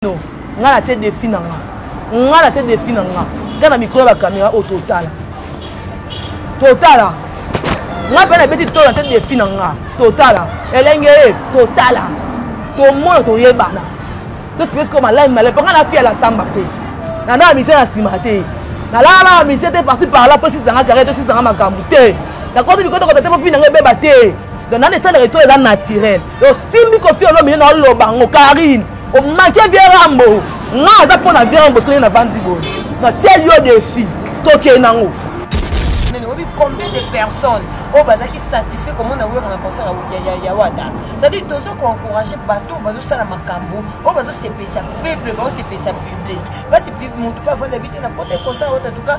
bino ngai natie defi na nga ngai natie defi na nga ngai na mikolo ya bakamera oyo totala totala ngai mpe nabeti tolo natie defi na nga totala elenge ye totala tomona toyebana totuesko malai malai mpo ngai nafi ya lasamba te nandaka mise na nsima te nalalaka mise te parti parla mpo esisanga kare to esisanga makambo te nakoti bikotoko tate mofi na ngai ebeba te donc nani esalaka eto eza naturel osimbi kofi olomine na oloba yango karine omake vierambo nga aza mpo na vierambo soki na vandi boye natieli yo defi tokei nango oyebi combien de personnes oyo bazalaki satisfait komona wera na concert ya wata cetadire tozo koencourage bato oyo bazosala makambo oyo bazosepesa peuple bazosepesa public basi motu mpe avanda bi te na kota concert ya wata tuka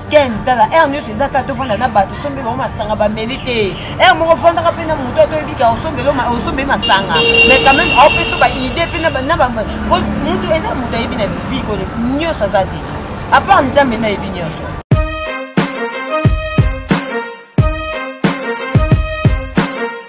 ken tala aire nyonso eza kaka tofanda na bato osombeli bango masanga bameli te aire moko ofandaka mpe na moto ato oyebi kaka osombeli masanga mais quand même aopesa baidée mpe mutu eza moto ayebi na vie kone nyonso aza te apart nzambe nayebi nyonso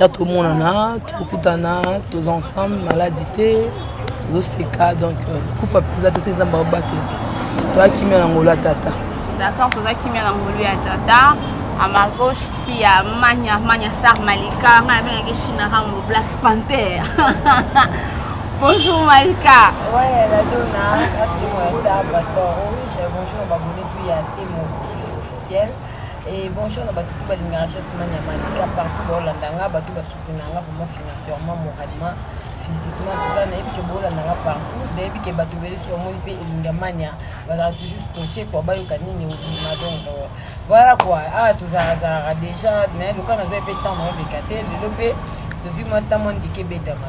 ya tomonana tokutana toza ensemble maladi te tozoseka donc euh, kufa mpenza te se nzambe aobatela toya kimia na ngolu ya tata d'accord toza kimia na ngolu ya tata à ma gauche ici il y a Mania, Mania Star Malika, avec China Rambo Black Panther. bonjour Malika. Ouais, la donna, grâce à Star Passport. Oui, bonjour, abonné puis à tes motifs officiels. Et bonjour na batu tout balingaka Jesse Mania Malika partout baolanda nga batu basoutenaka nga vraiment financièrement moralement physiquement tout ça nayebi ke boolanda nga partout nayebi ke bato ebele so bamoni mpe elinga mania bazala toujours scotche kua bayoka nini obima donc euh, voilà kua awa ah, tozalazalaka déjà naye loka nazwa mpe ntango naoleka te lelo mpe tozwi mwa ntango mwa ndike ebetama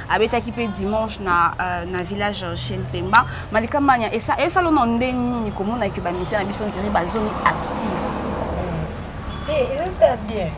abetaki mpe dimanche na, uh, na village chez mpemba malika mania esalo na ndenge nini komona ke bamisia na biso ndiri bazongi actif eh, ezosala bien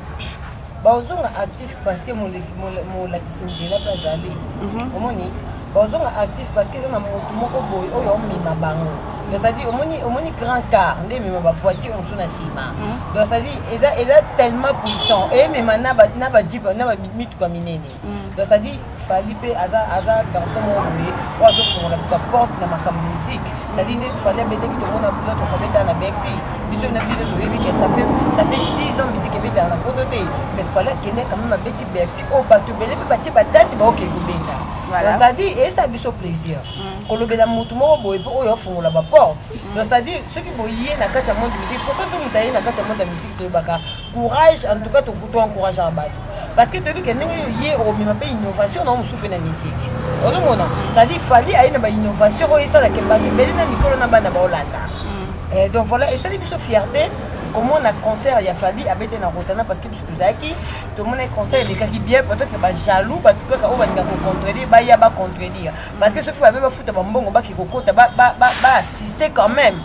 bazonga actif parce que molakisi nzela mpe azali mhm. omoni bazonga actif parce que eza na motu moko boye oyo omema bango cestadire omoni omoni grand car nde emema bavoiture mosusu na nsima mhm. donc cestadire eza tellement puissant emema na bamituka minene donc ça dit fali mpe aza aza garçon moko boye oyo azofongola kuta porte na makambo musique ça dit nde fali abetaki tomona notre famille dans la mexi biso na bino toyebi ke ça fait ça fait 10 ans musique ebetaka na poto te mais fali akende quand même abeti berxi oyo bato ebele mpe batie badati baokei kobenda donc ça dit eyesa biso plaisir mm. kolobela motu moko boye mpe oyo afongola baporte mm. donc ça dit soki boye na kati ya monde musique pourquoi soki moto aye na kati ya monde ya musique toyebaka courage en tout cas to kuto encourage à batu parce que toyebi ke ndenge yo ye omema mpe innovation na yo mosusu mpe na musique ozomona cestadire fali aye na bainnovation oyo esala ke bato ebele na mikolo na bana baolanda mm. eh, donc voilà esali biso fierté komona concert ya fali abete na rotana parce que biso tozalaki tomonaki concert elekaki bien peut-être bajaloux bato kaka oyo balinga kocontredire baya bacontredire parce que soki babe bafuta bambongo bake kokota baassiste quand même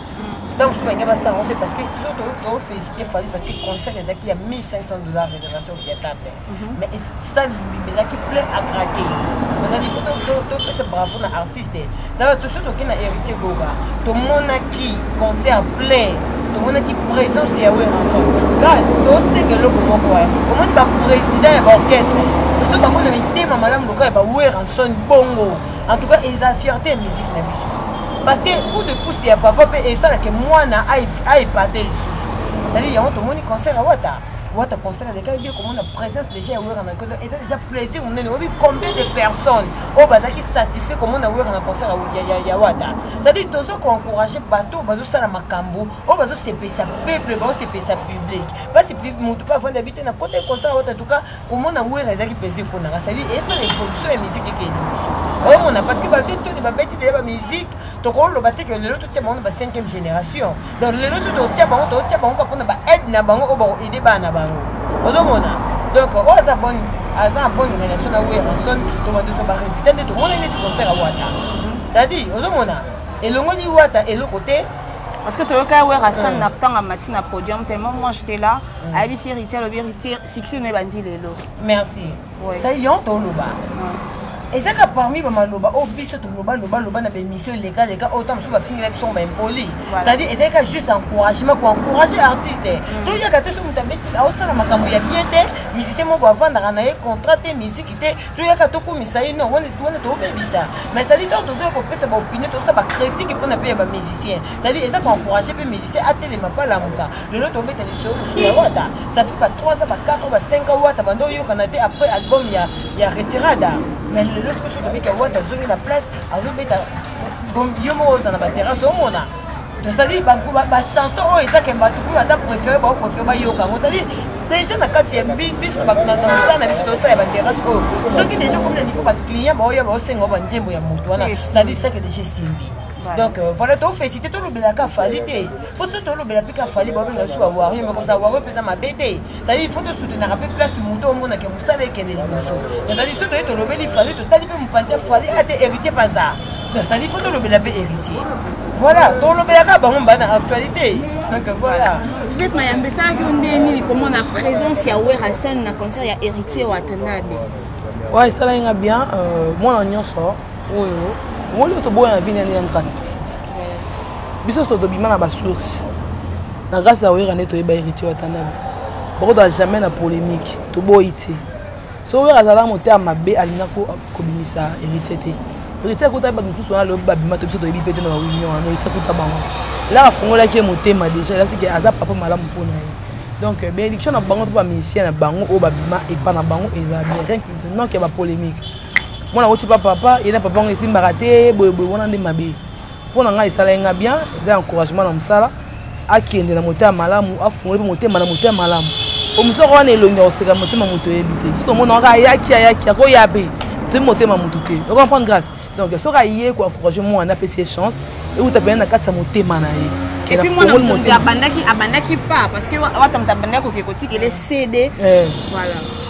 ntango mosusu balingi basala yango mpe parce que toujours tofélicité fali parce que concert ezalaki ya 1500 dollar réservation viatable mhm. mais esali mobimba ezalaki plein à craquer ezali fo topesa bravo na artiste zaba toujours toke na héritier goga tomonaki concert plein tomonaki présence ya weranson gaz tosenga eloko moko ya omoni baprésident ya baorchestre biso bango na mitema malamu lokola ya baweranson bongo en tout cas eza fierté ya musique na biso parce que coup de pouce ya papa mpe esalaka mwana aepate lisusu ezali yango tomoni concert ya wata wata concert alekaki bie komona présence déjà ya wera na kodo eza déjà plaisir monene oyebi combien de personnes oyo bazalaki satisfait komona wera na concert ya wata c'est-à-dire tozo koencourage bato bazosala makambo oyo bazosepelisa peuple bazosepelisa public mpasi motu mpe avandi abi te na kota concert ya wata en tout cas komona wera ezaki mpenza epona nga sali esa na evolution ya miziki eke liboso omona parce que bato toni babeti deya bamiziki tokoloba te ke lelo totia bango na ba 5e génération donc lelo so totia bango totia bango ka mpona baaide na bango oyo bakoaide bana na bango ozomona donc oyo aza bon aza bonne relation na werrason tobandoso baresultat nde tomona neti concert ya wata c'est-à-dire ozomona elongoli wata eloko te parce que toyoka werrason na ntango amati na podium tellement moi j'étais là mm. ayebisi héritier alobi héritier succès na ebandi lelo merci ça yon toloba ezaka parmi bamaloba oyo biso tolobalobaloba na baémission eleka leka oyo ta mosusu bafingela biso baimpoli c'est-à-dire ezalaka juste encouragement koencourage artiste mm. toyaka te so moto abeti aosala makambo ya bien te musicien moko avandaka na ye contrat te miziki te toyaka tokumisa ye non wana tobebisa mais c'est-à-dire ntango tozoya kopesa baopinion tosala bacritique mpona mpe ya bamusicien c'est-à-dire eza koencourage mpe musicien atelema palamuka lelo tobeta lisolo mosusu ya wata ça fait ba 3 ans ba 4 ans ba 5 ans wata banda oyokana te après album ya, ya retirada mais lelo soki soki tobiki ya wata azongi na place azobeta yo moko oza na baterrasse omona tozali bachanson oyo ezake bato mpe baza préféré bao préféré bayoka yango ozali déjà na kati ya biso naosala na biso tosala ya baterrasse oyo soki déjà okomi na niveau baclient baoya baosenga banzembo ya moto wana sadisake déjà esimbi donc euh, voilà tofesite tolobelaka fali te po soki tolobela mpe ka fali babenga biso bawario moko za wario mpenza mabe te ezali ifo tosutenaka mpe place moto omonake mosala ekende liboso ezali soki toye tolobeli fali totali mpe mopanzi ya fali ate héritier paza ezali ifo tolobela mpe héritier voilà tolobelaka bango mbaa na actualité donc voilà peut-être mayambe esalaki yo nde nini komona présence ya werasen na concert ya héritier watanabe oyo esalaki nga bien euh, mwana nyonso oyo omoni oyo toboya na bino yande ya ingratitude biso so tobima na basource na grâce ya oyera nde toyeba héritier watanabe bakozala jamais na polémique toboyi te so oyera azala motema mabe alinga kobimisa héritier te héritier akuta bato mosusu wana lobi babima to biso toyebi mpe te na baunion wana héritier akuta bango elaka afungolaki ye motema déjà elasiki aza papa malamu mpo na ye donc euh, bénédiction na bango mpe bamusicien na bango oyo babima epa na bango eza bien rien non ke bapolémique mwana woti pa papa ye na papa yango esimbaka te boyeboye wana nde mabe mpo na ngai esalaki ngai bien eza encouragement na mosala akende na motema malamu afungoli mpe motema na motema malamu po mosoko wana elongi ya koseka motema moto oyebi te soki omona kaka ayaki ayaki akoya mpe toyebi motema moto te okomprendre grâce donc soki aye koencourage mwana apesi ye chance euta mpenza na kati ya motema na ye epuis mwana mokonzi abandaki abandaki pa parce que wata moto abandaki koke kotikele cd eh. voilà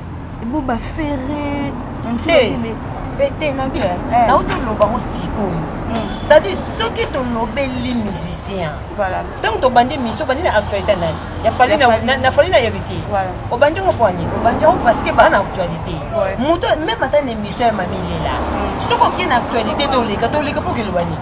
Bo ba ferre. Hey. Bete na bien. Eh. Na uto loba ko sikoyo. Hmm. C'est-à-dire soki to lobeli musicien. Voilà. Tant to bandi mission bandi na actualité na. Ya fali na na fali na héritier. Voilà. O bandi ko kwani. O bandi ko parce que ba na actualité. Moto même ata na mission ya mamile là. Hmm. Soko ki na actualité to leka to leka pour que le wani.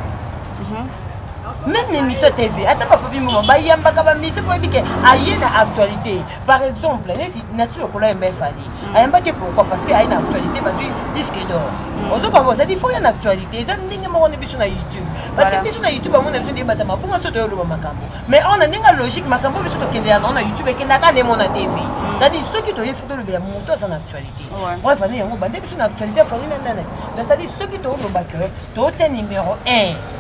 meme émission tv ata bapapi moma bayambaka bamise po oyebi ke aye na actualité par exemple neti nature okola yemba efali mm. ayembaki pourquoi parce que aye na actualité bazwi disque d'or mm. ozokomba ozali fo ya na actualité eza ndenge moko na biso na youtube parce que biso na youtube yango na biso nde ebata mabunga so toyoloba makambo mais awa na ndenge ya logique makambo biso tokende yango na youtube ekendaka nemo na tv mm. cetadire soki toye fo tolobela moto aza na actualité po efali yango bande biso na actualité afali na nana cetadire soki tolobaka tootya numero 1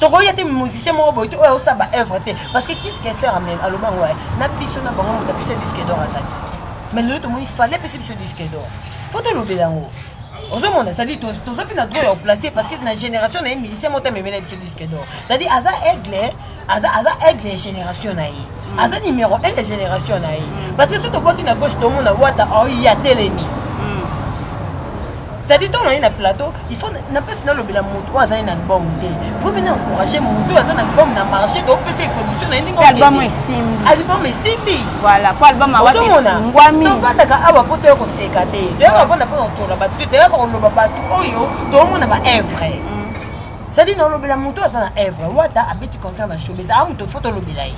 tokoya te musicien moko boye te oyo aosala baœuvre te parce que kit kester amen aloba yango waye na biso na bango moto apesa disque dor aza te mais lelo tomoni fale apesi biso disque dor fo tolobela yango ozomona cetadi toza mpe na droit ya koplace parce que na génération na ye musicien moko te amemela biso disque dor cetadi aza aigle aza aza aigle ya génération na ye mm. aza numéro 1 ya génération na ye mm. parce que soki tobwaki na gauche tomona wata aoye oh, atelemi mm. cetadi ntango naye na plateau il faut napesi nalobela moto oyo azali na album te faut mpe na encourage moto oyo aza na album na marché topesa evolution na ye ndenge album esimbi tovandaka awa mpo toya koseka te toyaka vanda mpo na kotyola bato te toyaka koloba bato oyo tomona baevre sadi na olobela moto aza na evre wata abeti concert na showbiz a moto fo tolobela ye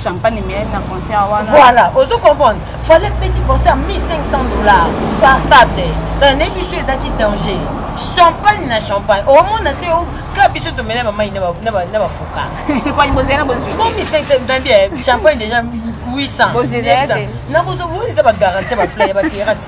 champagne miyai na concert wana voilà ozo comprendre fallait petit concert 1500 dollars par table na biso ezalaki danger champagne na champagne omona te ka biso tomela bamai na bapoka champagne déjà 800 nakozobonisa bagarantie ya baplaya baterasi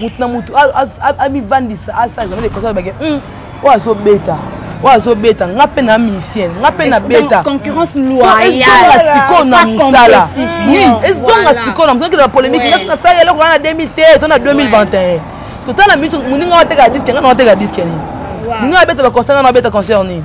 motu na motu amivandisa asala jamais de conscience bake hmm, oyo azobeta oyo azobeta nga mpe na musicien nga mpe na beta sikoyo na mosala ezonga sikoyo na mosala kila bapolémique nasi nasala eloko wana na 2000 te to na 2021 totala moninga wateka diske nga na wateka diske nini moninga abeta baconcert nga na abeta concert nini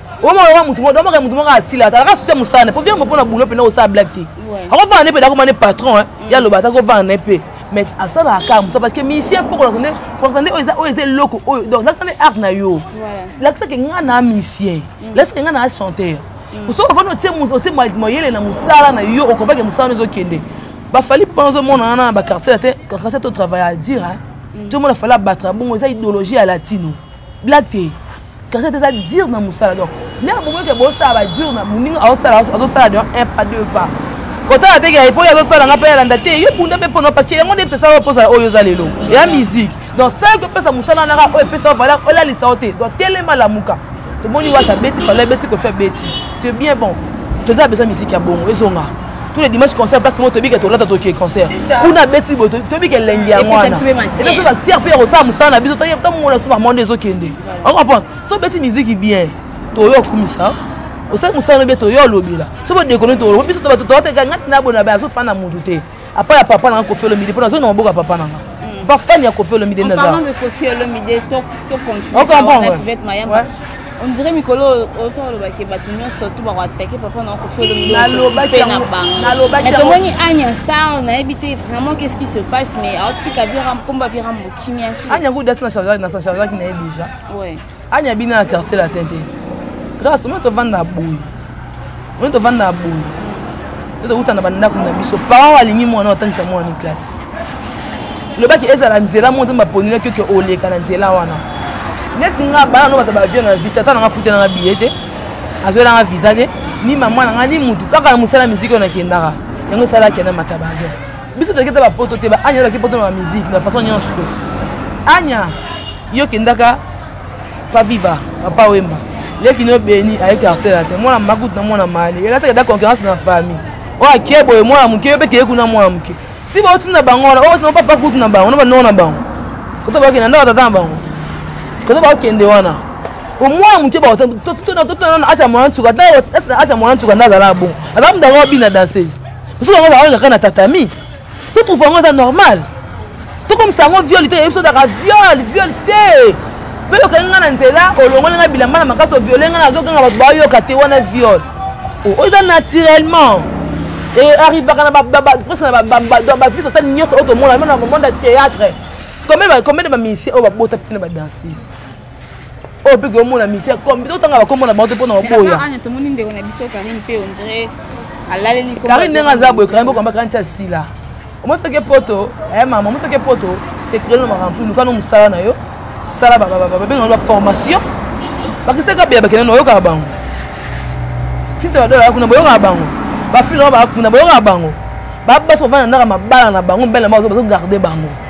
oma oyoka motu moko omaka motu moko asila atalaka susi ya mosala ne po viambo mpona boulot mpena kosala blague te akovanda ne mpe dakoma ne patron eh. mm. ya loba ata kovanda ne mpe mais asalaka kaka mosa parce que musicien fo kolakisa nde kolakisa nde oyo eza eloko oyo donc lakisa nde art na yo lakisaka ngai na musicien mm. lakisaka ngai na chanteur mm. soki ofani otie mayele na mosala na yo okobake mosala no ezokende bafali mpo nazomona wana na baquartier te quartier to travaille à dire tomona fali abataka bongo eza idéologie ya latino blague te cachette eza dire na mosala donc nde abomoki ke bosala badure na moninga azosala azosala donc un pas deux pas kotala te ke epoki azosala nga mpe alanda te yo bunda mpe mpono parce que yango nde tosala oposala oyo oza lelo eya musique donc sala kopesa mosala naka oyo epesa valeur olalisa yo te donc telema lamuka tomoni wata beti fala beti kofi abeti c'est bien bon toza besoin musique ya bongo ezonga tous les dimanches concert place moko toyebi ke tolata toke concert kuna abeti boye toyebi ke elengi yango wana epe batiere mpe ya kosala mosala na biso toyeba tomongola so bamonde ezokende okomprendre so obeti miziki bien toyo okumisa osali mosala no bien toyo olobela so bodekone too biso bato toateka ngati na bona baye azofanda motu te apa ya papa nanga kofi olomide mpo nazoi na maboko ya papa nanga bafani ya kofi olomide naza okomprendre On dirait mikolo oyo to aloba ke bato nyonso to bako attaquer papa na kofi olomide na bango. Mais tomoni Anya Star nayebi te vraiment qu'est-ce qui se passe mais aotika vira komba vira mbokimi ya. Anya kuda sina chargeur na sa chargeur ki na ye déjà. Ouais. Anya bina na quartier latin te. Grâce moi to vanda boye. oyo tovanda na boye to tokouta na bandako na biso parent alingi mwana otangisa mwana ni classe lobaki ezala nzela moko nzambe aponelaki oke oleka na nzela wana neti nga bana no bato bavio na vie tata nanga futa nanga biye te azwelanga visa te ni mama nanga ni mutu kaka na mosala miziki oyo nakendaka yango esalaki na mata bavio biso toyaki te bapoto te baanya elaki poto na bamiziki na façon nyonso te anya yo kendaka Pa viva, papa wemba. Leki no beni aye quartier la te. Mwana makutu na mwana mali. Yela saka da concurrence na famille. Oyo akie boye mwana moke pe keye kuna mwana moke. Si ba otina bango wana, oyo otina papa kutu na bango, na ba nona na bango. Koto ba kende ndako tata na bango. Koto ba kende wana. Au moins moke ba otina tout tout tout na acha mwana tsuka. Da acha mwana tsuka na zala bon. Azam ndako bina danseuse. Soki yango baoyo kaka na tatami to trouve yango eza normal tokomisa yango viole te yebiso daka viole viole te mpe okangi ngai na nzela olongoli ngai bilamba na makasi oviole ngai nazoganga bato bayoka te wana viole oh, oyo eza naturellement arrivaka na prese na bavise asali nyonso oyo tomona mona monde ya théâtre combien de bamisien oyo babota mpe na badanseuse oyo mpe komona misère comme totanga bakombo na bango te mpo na oboya tomoni ndeko na biso karine mpe ondire alaleli karine ndenge aza boye karine bokamba karine ti asila omosaki poto eh, mama omosaki poto sekrele na makambo luka no mosala na yo sala babenga ba formation bakisaka beya bakende na oyokaka bango tintia badola kuna boyokaka bango bafilma bakuna boyokaka bango babasi bavanda ndaka mabala na bango mbele na bango bazogarde bango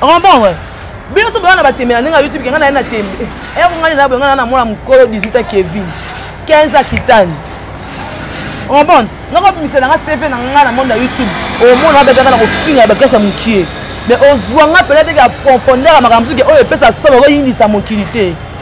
okomprendre bino nyonso boyana batembela ndenge ya youtube kenga naye na tembe eyako ngai naye boyenga na mwana mokolo 18 a kevin 15 a kitani okomprendre nakobimisa nanga cv na ngai na monde ya youtube omona babetaka na kofinga ya baklase ya mokie mais ozwa nga mpenza teke ya profondeur ya makambo mosuke oyo epesa somo okoyindisa mokili te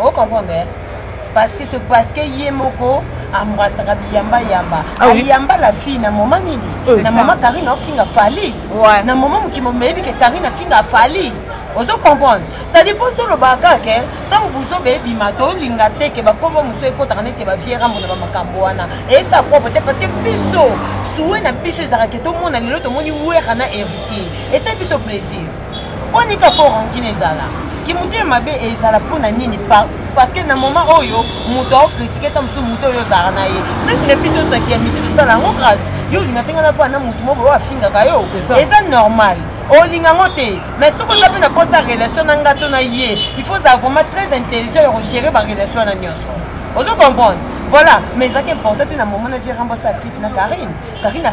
o comprendre parce que c'est parce que ye moko ambrasaka biyamba yamba ah ayamba la fille na moma nini euh, na moma karine ofinga fali na moma mokimo meyebi ke karine afinga fali ozo comprendre cetadi mpo tolobaka kaka ke ntango buzoba ebima tolinga te ke bakombo mosusu ekotaka neti bavie rambo na bamakambo wana esa propre te parce que biso suwe na biso ezalaka ke tomona lelo tomoni wera na héritier esa biso plaisir onika fo rancune ezala kimotema mabe ezala mpo na nini parce que na moment oyo moto aokritike ta mosusu moto oyo ozalaka na ye meme na biso osaki ya miti tosala yango grâce yo olinga mpenga na mpo na moto moko oyo afingaka yo eza normal olinga yango te mais soki oza mpe na mposa relation na nga to na ye il faut ozala vraiment très intelligent ya kogere barelation wana nyonso ozo comprendre voilà mais ezalaki important te na moment na vie rambosa clip na karine karine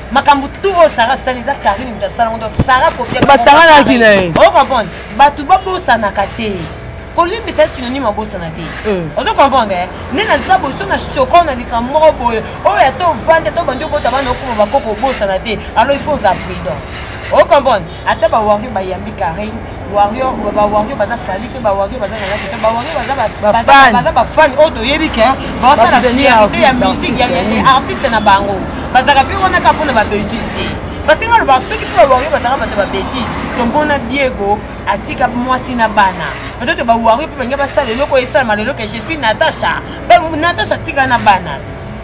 makambo tout oyo sara asali eza karine moto asala yango sara kobasanganaki na ye o comprendre bato babosanaka te kolimbisa synonyme abosana te eh. ozo comprendre eh? nde naza boso na shoko na likambo moko boye oyo ata ovandi ata obandi obota bana okoma bakoko obosana te alors il faut oza prudent o comprendre ata ba warrior bayambi carine warrior ba warrior baza fali te ba warrior baza na lati te ba warrior baza baza ba fan oyo toyebi ke baosala fierte ya musique ya artiste na bango bazalaka mpe wana kaka mpona babetise te basenga loba soki mpe ba warrior bazalaka bato babetise tombona biego atika mwasi na bana peut-être ba warrior mpe balingi basala eloko esalama lelo ke je suis natacha natacha atika na bana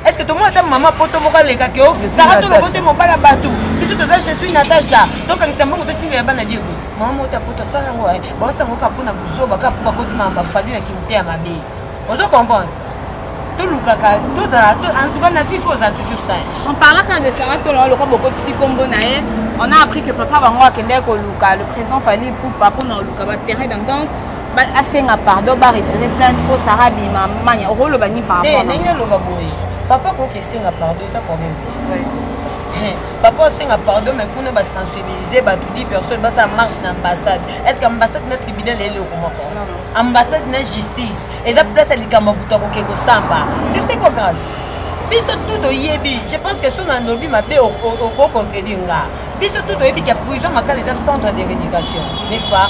est ce que tomona ata mama poto moko aleka ke o sara tolobo te mobali ya bato biso toza je suis natacha tokangisa mbongo totindela bana dieko mama moko ta poto asala yango eh. baosala yango kaka mpo na buzoba kaka mpo bakoti mama bafali na kimite ya mabe ozo comprendre tolukaka tozala en tout cas na vie fo oza toujours sage on parlaka de sara toloa lokola bokotisi nkombo na ye on a appris que papa bango akendaki koluka le président fali pupa mpo na koluka baterrain d'entente asenga pardon ba retire plainte mpo sara abima mania okoloba nini par rapport ndenge aloba boye papa koki esenga pardon eza problème te papa osenga pardon mais kuna basensibilise bato 10 personne basala marche na ambassade est ce que ambassade na tribunal ya eloko moko ambassade na justice eza place ya likambo ya moto akoke kosamba tu sais quoi grâce biso tout toyebi je pense que so na lobi mabe okocontredire nga biso tout toyebi ke prison makala eza centre de rééducation n'est ce pas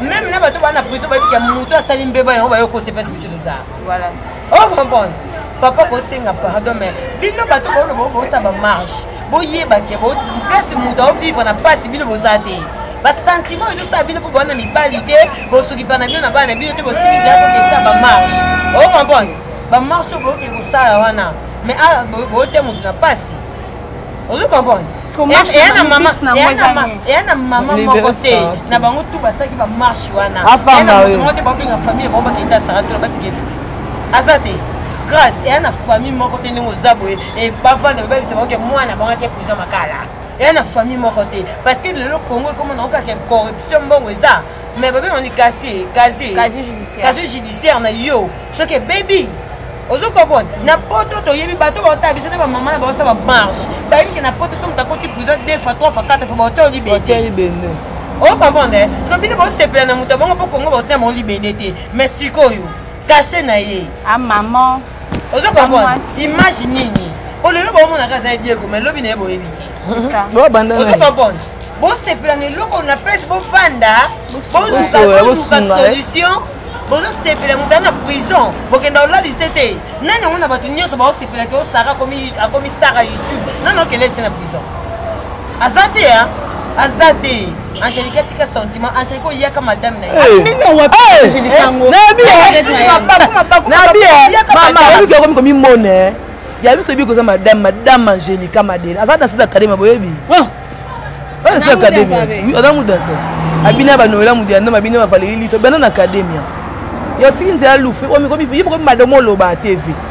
meme na bato bana prison bayebiki ya moto asali mbeba yango bayo kote mpasi biso toza voilà oh comprendre papa bosenga pardon mais bino bato boloba bosala bamarche boyeba te place moto aovivre na mpasi bino boza te basentiment ezosala bino mpo bowana mibali te bosokipa na bino na bana na bino te bosilizakokesa bamarche o comprendre bamarche oyo boyoki kosala wana mais ah, boyote moto na mpasi ozo comprendre eya na mama eya na mama moko te na bango tu basalaki bamarche wana eya na moto moko te baobenga famille bango bakenda asara tuna batika efufu aza te grâce eya na famille moko te ndenge oza boye bavanda babebisa baoke mwana bango ake prison makala eya na famille moko te parce que lelo congo ekoma na okaka corruption mbongo eza mais babe oni kasi kasi kasi judiciaire na yo soki ebebi ozo comprendre na poto toyebi bato baotala biso nde bamama na baosa bamarche bayebi ke na poto so moto akoti prison deux fois trois fois quatre fois baotya olibende o comprendre soki bino baosepela na moto ya bongo mpo kongo baotya bango libende te mais sikoyo kashe na ye a ah, maman ozo comprendre image nini po lelo baomonaka aza diego mais lobi na ye boyebi te ozo comprendre bosepela na eloko na place bofanda boluka solution bozosepela moto na prison bokenda olalise te nani yango na bato nyonso baosepela te osara akomi star ya youtube nani okende ese na prison aza te aza te Angelique atika sentiment Angelique oyaka madame na ye mino wapi Angelique yango na bien na bien mama oyebi okomi komimona ya biso oyebi koza madame madame Angelique Madele aza danse ya kadema boyebi danse ya kademia aza mu danse abina banoela mutu ya ndambo abina bafaleli lito bana na kademia yotiki nzela lufu ye bokomi madomo oloba tv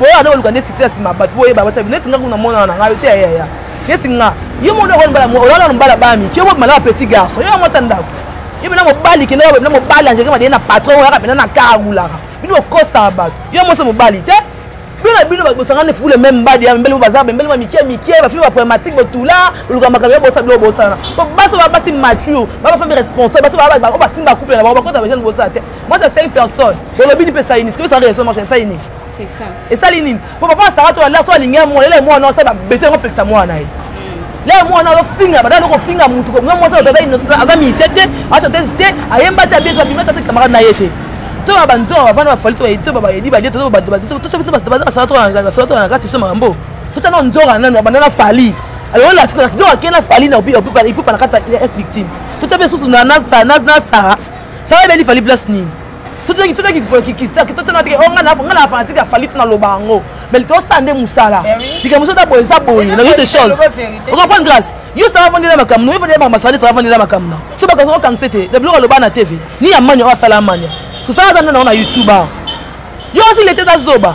boye wana oluka nde succès ya sima bato boye babatya neti nga kuna mwana na ngai te yaya neti nga yo mona okola mbala mwa olala na mbala bami ki obo malaka petit garçon yo yango ata ndako yo mena mobali kende yo mena mobali angeke madeye na patron oyaka mena na kara gulaka bino okosaka bato yo moso mobali te bino na bino bosangani fule meme mbadi ya mbele baza bembele ba mike mike bafimi ba problématique botula oluka makambo ya bosa bilo bosana po baso ba basi mature ba bafami responsable baso ba ba basimba couple na bango bakota bajane bosana te moi ça cinq personnes bolobi ni mpe saini sikoyo sala relation marche saini esali nini po papa asaka to alaa so alingi ya mwana elai mwana osala babese yango pelisa mwana na ye lelo mwana azofinga badala noko finga motu nga mwasi aza musicien te achantese te ayemba te abie abima tata camarade na ye te to ba banzonga bavanda bafali to baedi to babaedi balie to bato bato tosabi to bato basala to basala to na kati biso makambo totya nao nzonga nano abanda na fali alors la tuna donc akei na fali na ipupa na kati ya victime totya mpe susu na sara sara ebeli fali place nini totoki totoki kikista kitotana teke o nga na nga na fanatique ya falit na loba yango mais tosala nde mosala eh likambo mosusu ata boye eza boye na toute chose okomprendre grâce yo sala fandi na makambo yo fandi na masali sala fandi na makambo na so bakanisa kokangisa te na biloko aloba na tv ni ya mania oyo asala mania sosala aza nde na ngo na youtube awa yo osi lete eza zoba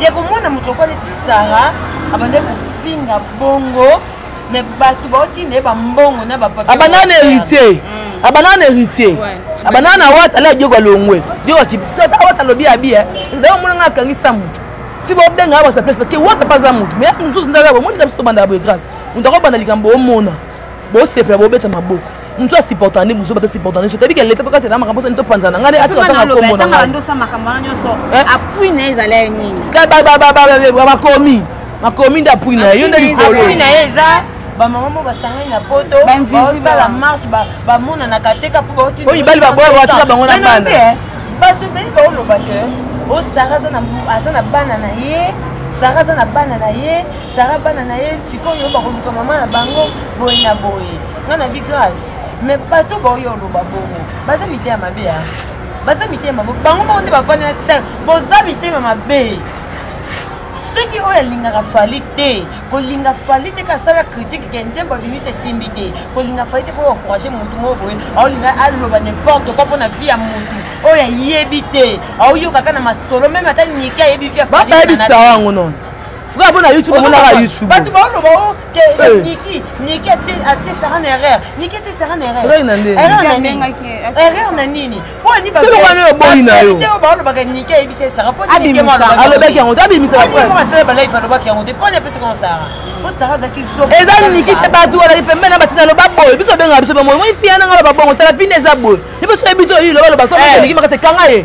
ya komona moto lokola neti sara abandaki kofinga bongo me bato baotinda ye bambongo na bapapiabandaka na héritier mm. abandaka na héritier abandaka na wata ala diogo alongwe diogo akipitata awata alobi abi eh. ezali omona ngai akangisa moto ti bobenga ya basa place parce que wata mpe aza moto mais mosusu ndaka bomoni kaka biso tobandaka boye grâce moto akobanda likambo omona bosepela bobeta maboko mutu asupportaka nde buzoba tosupportaka nyonso toyebi ke leta mpe kati na makambo soni topanzana ngai nde atika tanga nkombo na ngai ndosa makambo wana nyonso apui na ye ezali ya nini bakomi makomi nde apui na ye yo nde likolo bamama mo basangani na poto basala marche bamonanaka te ka mpo baoyo mibali baboya batika bango na bana eh. bato ebele baoloba te o oh, sara aza na bana na ye sara aza na bana na ye sara bana na ye sikoyo bakoluka mama na bango boye na boye nga na bi grace mais bato baoyo oloba bongo baza mite ya mabe ya baza mitema mabe bango moko nde bafandi na sel boza mitema mabe soki oyo alingaka fali te kolinga fali te kasala kritike ke nzembo abimisi esimbi te kolinga fali te mpoyo encourage motu moko boye aolinga aloba nimporte koi mpo na vie ya motu oyo ayebi te aoyokaka na masolo meme ata nike ayebi vie ya fali bayebisa yango nono frère mpo na youtube omonaka youtube bato baoloba eza niki te bato alaki pembe na batina loba boye biso obengaka biso bamoi moi fia nanga loba bongo tala pine eza boye liboso yebi to oyi loba loba soki makasi ekanga ye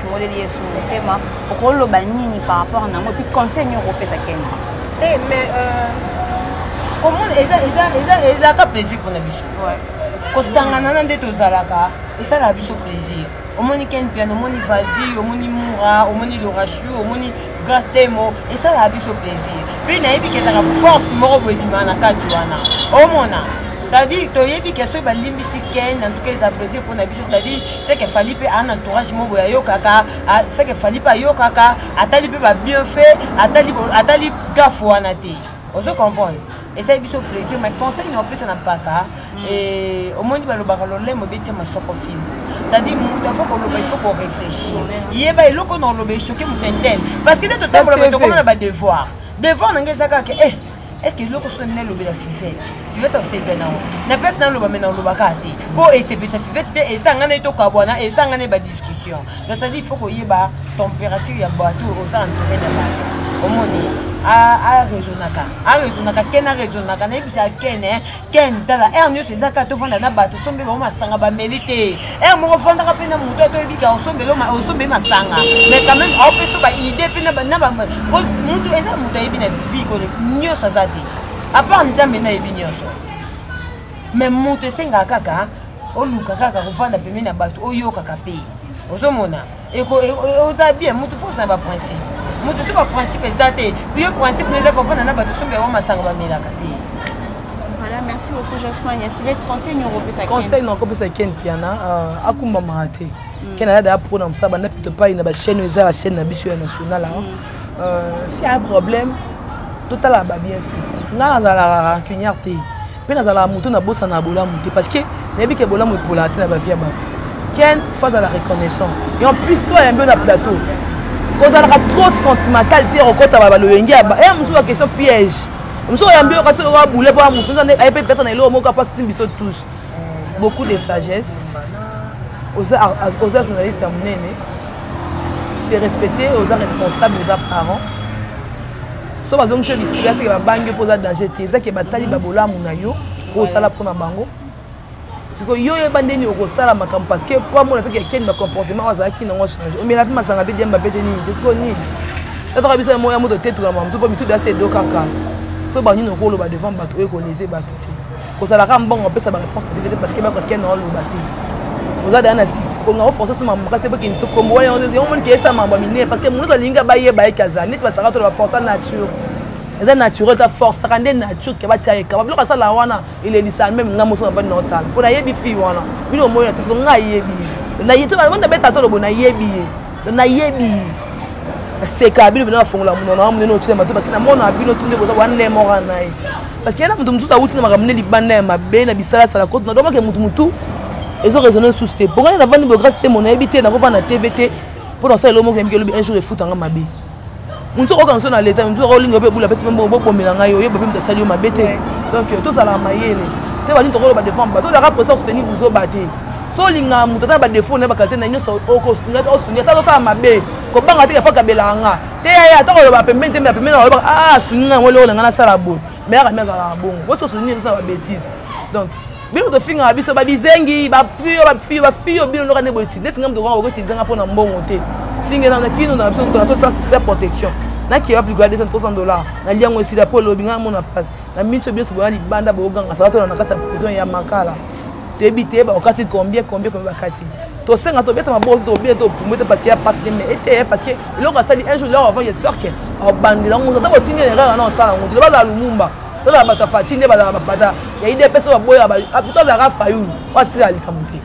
moleli yesu motema okoloba nini par rapport na yango epuis conseil nini okopesa kende te eh, mais euh, komona ezalaka plaisir mpona biso kosangana na nde tozalaka esalaka biso plaisir omoni ken piano omoni valdi omoni mura omoni lorachu omoni grace temo esalaka biso plaisir mpe nayebi kezaka force moko boyebima na kati wana omona c'est-à-dire toyebi ke soki balimbisi ken en tout cas eza plaisir mpona biso c'est-à-dire seke fali mpe ana entourage moko boye ayokaka seke fali mpe ayokaka atali mpe babienfait atali, atali gafu wana te ozo comprendre esali biso plaisir mais conseil na opesa na mpaka mm. omoni balobaka lolemo betia masoko film c'est-à-dire moto afo koloba il faut koréfléchir yeba eloko na oloba echoke moto entene parce que nde totambola tokomona badevoir devoir na ngai eza kaka e eh, est-ce que eloko soni nalobela fivete fivete asepela nango na place naloba me nalobaka te mpo esepelisa fivete te esanga nde tokabwana esanga nde badiscussion donc cetadi il faut koyeba température ya bato oza entouré na bato omoni aresonaka aresonaka ken aresonaka nayebisa ken ken tala aire nyonso eza kaka tovanda na bato osombeli bango masanga bameli te aire moko ofandaka mpe na moto ata oyebi kaka osombeli masanga mais quand même aopeso baidée mpe mutu eza moto ayebi na vie kole nyonso aza te apart nzambe nayebi nyonso mais moto esengaka kaka oluka kaka kovanda pembeni na bato oyokaka mpe ozomona oza bien mutu fo ozala baprincipe mutu so baprincipe eza te yo principe na eza kofanda na bato somba yango masanga bamelaka te Voilà, merci beaucoup Jospin. Il y a filet conseil nous repose à Conseil nous repose à Ken Piana. Euh, akumba mahate. Mm. Ken a d'ailleurs pour nous faire bande plutôt pas une ba chaîne aux la chaîne na bisu nationale. Hein. Mm. Euh, s'il y a un problème, tout à la ba bien fait. Nga na la rancunière te. Mpe nazalaka moto nabosanaka bolamu te parce que nayebi ke bolamu epolaka te na bavie ya bato ken fo azala reconnaissant et en plus to ayambi yo na plateau kozalaka trop sentimental te okota baloyenge ya eh, mosusu ba question piège mosusu oyambi yo kasi okoka boule mpo moto aye mpe pesa na eloko moko apasi ti biso touche beaucoup de sagesse oza journaliste ya monene se respecter oza responsable oza parent so bazongisi yo lisika te babangi yo mpo oza danger te ezaki batali babolamu na yo osala mpo na bango sikoyo yo oyeba ndeni okosala makambo parce que po amona mpe kekeni bacomportement oyo azalaki nango change omela mpe masanga mpe diamba mpe te nini te sikoyo nini tataka biso yango ya moto te tokama mosu mpo mituda se edo kaka so banini okoloba devant bato oyo ekolese bato te ozalaka mbongo opesa ba réponse dévete parce que bako ken na oloba te oza daya na six konga oforce so mambo kasi eboki ntokombo wana yango moni keyesa mambo ya minene parce que moto alingi bayeba ye kaza neti basaka to baforce nature eza naturel ta force saka nde nature ke batya yekaba biloko asala wana elelisa meme nga moso nabandi na otala mpo nayebi fille wana bino omoyi na te siko nga ayebi ye nabeta to lobo nayebi ye nayebi ye naseka bino bino nafongola monona wa monene otuna mato parce que namona bino tunde boza wa nemora na ye parce que ye na moto mosusu awuti na makambo nde libanda ya mabe na bisalasala koto nadomake motu motu ezo raisonne susu te mpo ngai navandi biographe te mo nayebi te nakovanda na tv te mpo nasala eloko moko yamiki elobi un jour efutanga mabe mosusu akoyoka mosusu na leta mosusu akolinga mpe ebula apesi mpe mbongo bobomela ngai oyeba mpe moto asali yo mabe te donc euh, tozalaka mayele te balingi tokoloba devant bato ozalaka presa soutenir buzoba te so olingaka moto ata na badefaut na ye bakalite na ye nyonso okosunga ata osungi ata azosala mabe kobanga te ya pakabelaka nga teya ye ata koloba pembeni te me pembeni nakoloba a ah, sungi ngai yango eloko na ngai nasala boye me yaka mi azalaka bongo boso sungi ezosa babétise donc bino tofingaka biso babizengi bafio bafio bafio bino ndoka nde boye ti neti ngai moto kaka okotiza ngai mpo na mbongo te finge na kino na biso tona sa protection nakeya plus gade 300 dollar nali yango esila mpo elobi ngai amona place na minso biso boya libanda booganga sala tona na kati ya prison ya makala toyebi te bakokati combien combien combien bakati tosenga tobeta maboko tobeta topumu te parce que ya pasi te mais eteye parce que eloko asali un jour lor avant j'espère que abandela ngo ata botindi erreur wana osala ngo tilo bazala lumumba tozala bato ya fati nde bazala bapata ya idps oyo baboya apito azalaka fayulu oyo atikala likambo te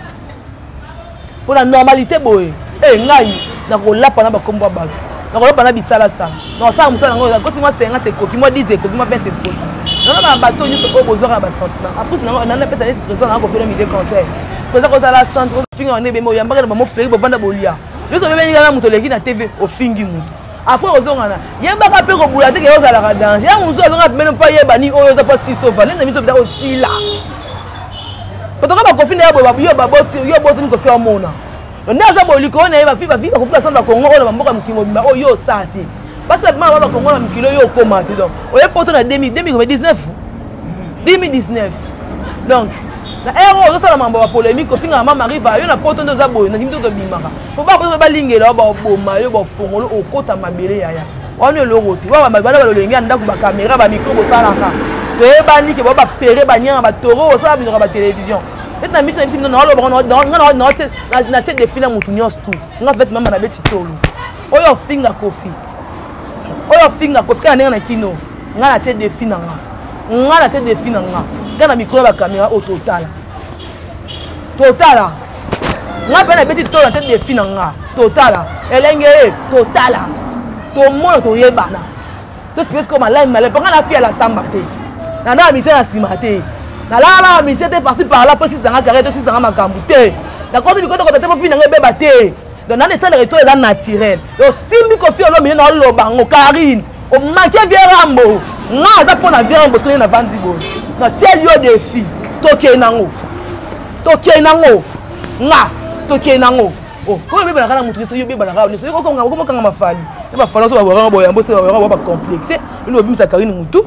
mpo na normalite boye e ngai nakolapa na bakombo ya bato nakolapa na bisalasa nakosala mosala yango koti mwa 50 ekoki mwa 10 ekoki mwa 20 ekoki nanaka na bato nyonso oyo bozwaka na basentiment afrike nango nana pesa neti président nanga kofela mide conseil président kozala centre ofinga wana ebembe oyambaka na bamofleuki bovanda bolia nyonso obebeninga na moto oleki na tv ofingi moto après ozongana yebaka mpe kobula te ke ozalaka danger yango mosusu azonga pemene mpo ayeba nini oyo oza mpo sisova nende miso bita osila otoka bakofi na yo babotini kofi omona nde aza bolikolo na ye bafi bafi bakofi basana bakongo oyo na bamboka mokili mobimba oyo yo osaa te basi na bima ba bakongo na mokili oyo okoma te donc oye poto na 2019 2019 donc na ero ozosala mambo ya polémique kofingaka ma mariva yo na poto nde oza boye na kimi te tobimaka po bakoyeba balingela yo baboma yo bafongolo okota mabele yaya wana eloko te wana balolenge ya ndako bakamera bamikro bosalaka toyebani ke bao bapere banyanga batoro osala binoka batelevizio ete na miso na biso bino natie defi na motu nyonso tu nga vete mama na beti tolo oyo ofinga kofi oyo ofinga kofi kaka ndenge na kino nga natie defi na nga nga natie defi na nga nga na mikro ya bakamera oyo totala totala nga mpe nabeti tolo nate defi na nga totala elenge ye totala tomona toyebana totikesiko malami malami mpo nga na fiya lasamba te nandaka mise na nsima te nalalaka mise te parti parla mpo esisanga kare to esisanga makambo te nakoti bikotokoto te mpo fini na nga ebeba te donc nani etalaka eto eza naturel osimbi kofi olomide na oloba yango karine omake vie rambo nga aza mpo na vie rambo soki na vandi boye natieli yo defi tokei nango tokei nango nga tokei nango oh, oyo obebanaka na moto nyonso yo obebanaka nyonso yo kokanga okomokanga mafali na bafali nyonso baboyanga boyambo se baboyanga boya bacomplexe ino obimisa karine motu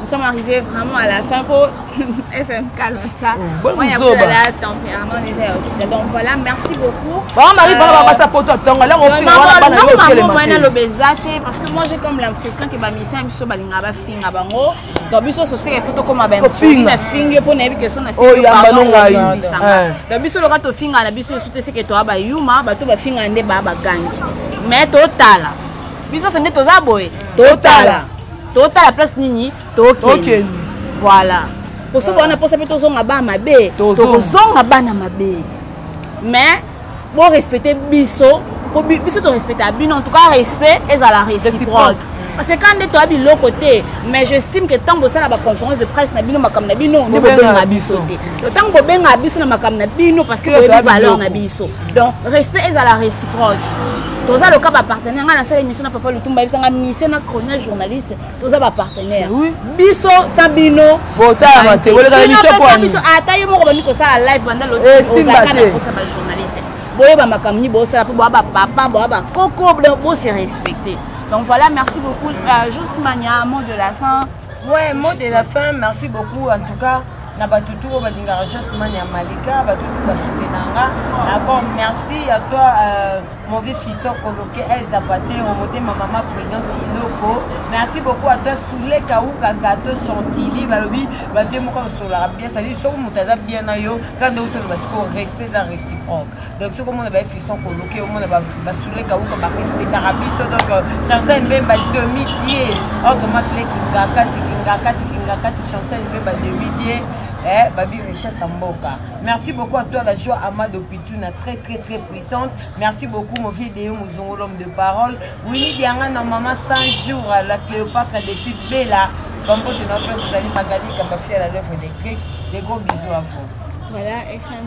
Nous sommes arrivés vraiment à la fin pour FMK Loncha. Bon, Moi, il y a la tempérament des airs. Donc voilà, merci beaucoup. Bon, Marie, euh, bon, ça pour toi, ton là, on fait voilà, bana yo kele mate. Moi, le bezate parce que moi j'ai comme l'impression que ba mission biso balinga ba finga bango. Donc biso so se photo comme ba finga finga pour na biso na. Oh, ya mbano ngai. Eh. Donc biso loka to finga na biso soute se que toi ba yuma, ba to ba finga nde ba ba gangi. Mais totala. Biso se nde toza boye. Totala. totala place nini tokende voilà kosoba wana mposa mpe tozonga bana mabe tokozonga bana mabe mais borespecte biso po biso torespectaka bino en tout cas respect ezala réciproque parce que quand nde toya biloko te mais j'estime que ntango bosala baconférence de presse na bino makambo na bino nde bobenga biso te to ntango bobenga biso na makambo na bino parce que boyebi valeur na biso donc respect ezala réciproque toza loka bapartenaire ngai nasala émission na papa lutumba yebisa ngai mission na chronier journaliste toza bapartenaire biso sa bino ata ye moko bandi kosala live banda lotiozalaka na kosa bajournaliste boyeba makambo nini bosala mpo boya bapapa boya bakoko bose respecte donc voilà merci beaucoup euh, jusmania mot de la fin Ouais, mot de la fin, merci beaucoup en tout cas na bato tout oyo balingaka jasman ya malika bato tout basuki na nga d'accord merci à toi euh, mon vieux fiston koloke el zapatero motema mama prudence iloko merci beaucoup à toi soule kauka gato chantilly balobi bavie moko aosololaka bien sadi soki moto aza bien na yo kaka nde outi oloba sikoyo respect eza réciproque donc soki omona baye fiston koloke omona basule kauka barespetaka biso donc euh, chancel mbemba demi die autrement pele kingakati kingakati kingakati chancel mbemba demi die eh, babi richesse ya mboka merci beaucoup à toi la joie amado pituna très très très puissante merci beaucoup mon vieux deyo mozongo l'homme de parole wini dianga na mama 100 jours la cléopatre depuis bela bambote na place ozali magalika bafia la lèvre électrique des gros bisous à vous voilà fm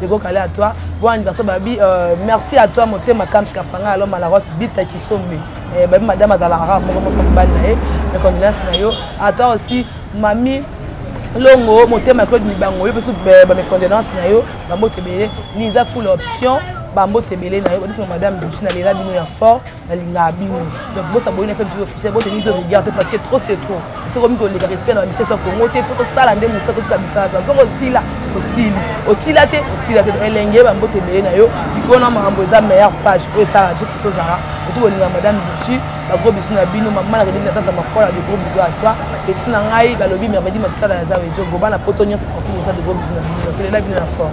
Deko kale à toi. Bon anniversaire babi. Euh, merci à toi motema Kams Kafanga alors Malaros Bita Kisombe. Eh, babi madame azala rare moko moko mobali na ye. Mes condoléances na yo. À toi aussi mamie longo motema claude mibango yo mpe su eh, ba mes condoléances na yo bambote ebele liza full option bambote ebele na yo odifo madame duchina lela bino ya fort nalingaka bino donc bosa boyina fe biso officiel bote mizo regard te parce que trop c'est trop soko miko leka respect na biso soko ngo te faut tosala nde mosa totika bisasa soko osila osili osila te osila te elenge bambote ebele na yo likolo na makambo eza meilleure page oyo esala je tozala otu kolinga madame bichi bagros bisu na bino mama na keleki na tata mafola de gros bisu à toi peti na ngai balobi mervedi makisala ya zawe jogo bana poto nyonso partout oza de gros bisu na bino nakelela bino ya fort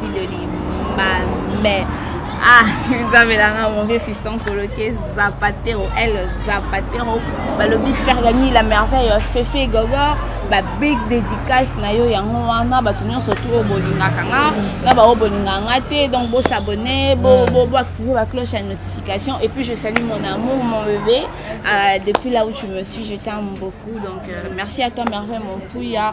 Kileli mame. Ah, nzambe na nga mon vieux fiston koloke zapatero el zapatero balobi fergani la merveille fefe gogo babig dédicace na yo yango wana bato nyonso tu oyo bolingaka nga na baoyo bolingaka nga te donc bosabonne boactive mm. bacloche ya notification et puis je salue mon amour mon bébé euh, depuis là où tu me suis je t'aime beaucoup donc euh, merci à toi merveille mon pouya